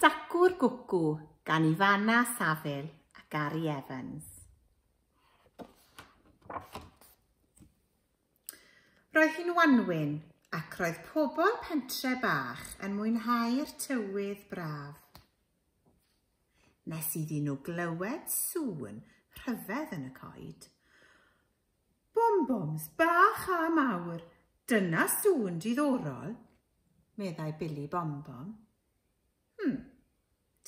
Dacw'r Gwcw gan Ifana Saville a Gary Evans. Roedd hi'n wanwyn ac roedd pobl pentre bach yn mwynhau'r tywydd braf. Nes iddyn nhw glywed sŵn rhyfedd yn y coed. Bom-boms bach a mawr, dyna sŵn diddorol, meddai Billy Bom-bom. Hmm,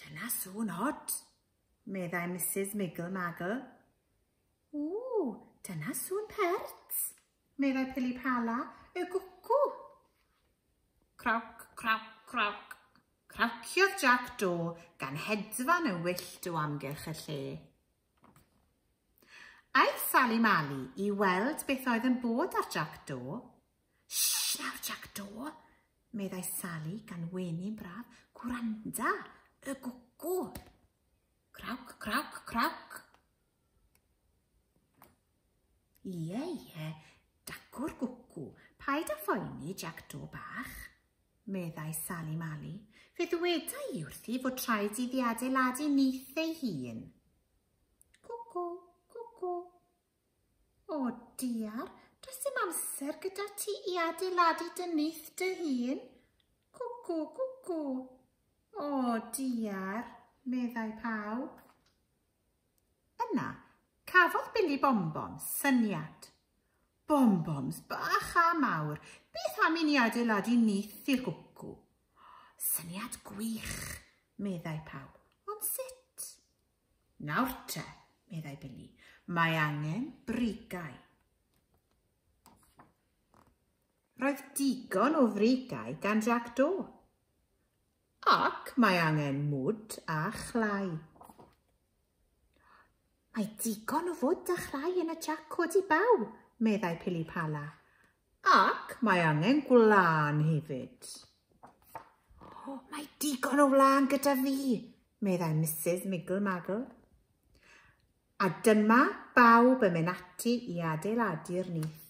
dyna sŵn od, meddai Misus Miggle Maggle. Ww, dyna sŵn pert, meddai Pili Pala, y gwcw. Crawc, crawc, crawc. Crawciodd Jac Do gan hedfan yn wyllt o amgylch y lle. Aeth Sali Mali i weld beth oedd yn bod ar Jac Do. Shh nawr Jac Do, meddai Sali gan wenu'n braf. Gwranda, y gwcw. Crawc, crawc, crawc. Ie, ie, dacw'r gwcw, paid â phoeni, Jac Do bach, meddai Sali Mali. Fe ddweda i wrthi fod rhaid iddi adeiladu nyth ei hun. Cwcw, cwcw. O, diar, does dim amser gyda ti i adeiladu dy nyth dy hun. Cwcw, cwcw. O, diar, meddai pawb. Yna, cafodd Billy Bonbon syniad. Bonbons bach a mawr, beth am i ni adeiladu nyth i'r gwcw? Syniad gwych, meddai pawb, ond sut? Nawr te, meddai Billy, mae angen brigau. Roedd digon o frigau gan Jac Do. Ac mae angen mwd a chlai. Mae digon o fwd a chlai yn y jac codi baw, meddai Pilipala. Ac mae angen gwlân hefyd. O, mae digon o wlân gyda fi, meddai Mrs Miggle Maggle. A dyma bawb yn mynd ati i adeiladu'r nyth.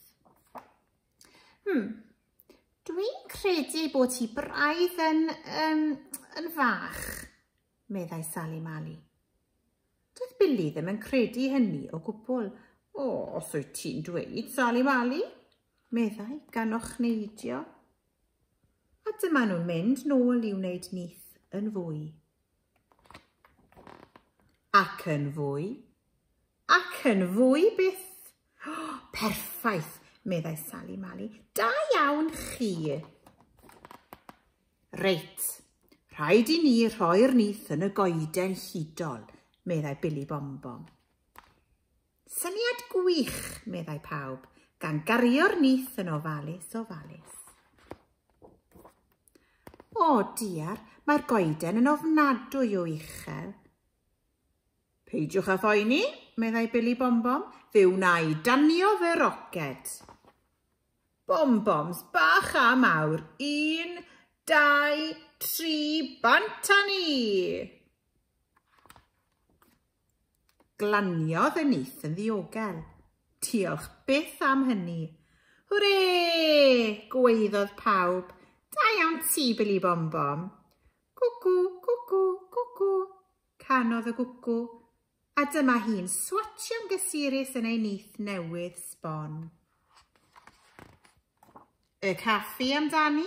Hmm, dwi'n credu bod ti braidd yn, um, yn fach, meddai Sali Mali. Doedd Billy ddim yn credu hynny o gwbl. O, oh, os wyt ti'n dweud, Sali Mali, meddai gan ochneidio. A dyma nhw'n mynd nôl i wneud nith yn fwy. Ac yn fwy. Ac yn fwy byth. Oh, perffaith, meddai Sally Mali. Da iawn chi. Reit, rhaid i ni rhoi'r nith yn y goeden hudol, meddai Billy Bombom. Syniad gwych, meddai pawb, gan gario'r nith yn ofalus ofalus. O, diar, mae'r goeden yn ofnadwy o uchel. Peidiwch â phoeni, meddai Billy Bombom, fe wna i danio fy roced. Bomboms bach a mawr, un, dau, tri, bant a ni! Glaniodd y nyth yn ddiogel. Diolch byth am hynny. Hwre! gwaeddodd pawb. Da iawn ti, Billy Bom Bom. Gwgw, gwgw, gwgw, canodd y gwgw, a dyma hi'n swatio'n gysurus yn ei nyth newydd sbon. Y caffi amdani?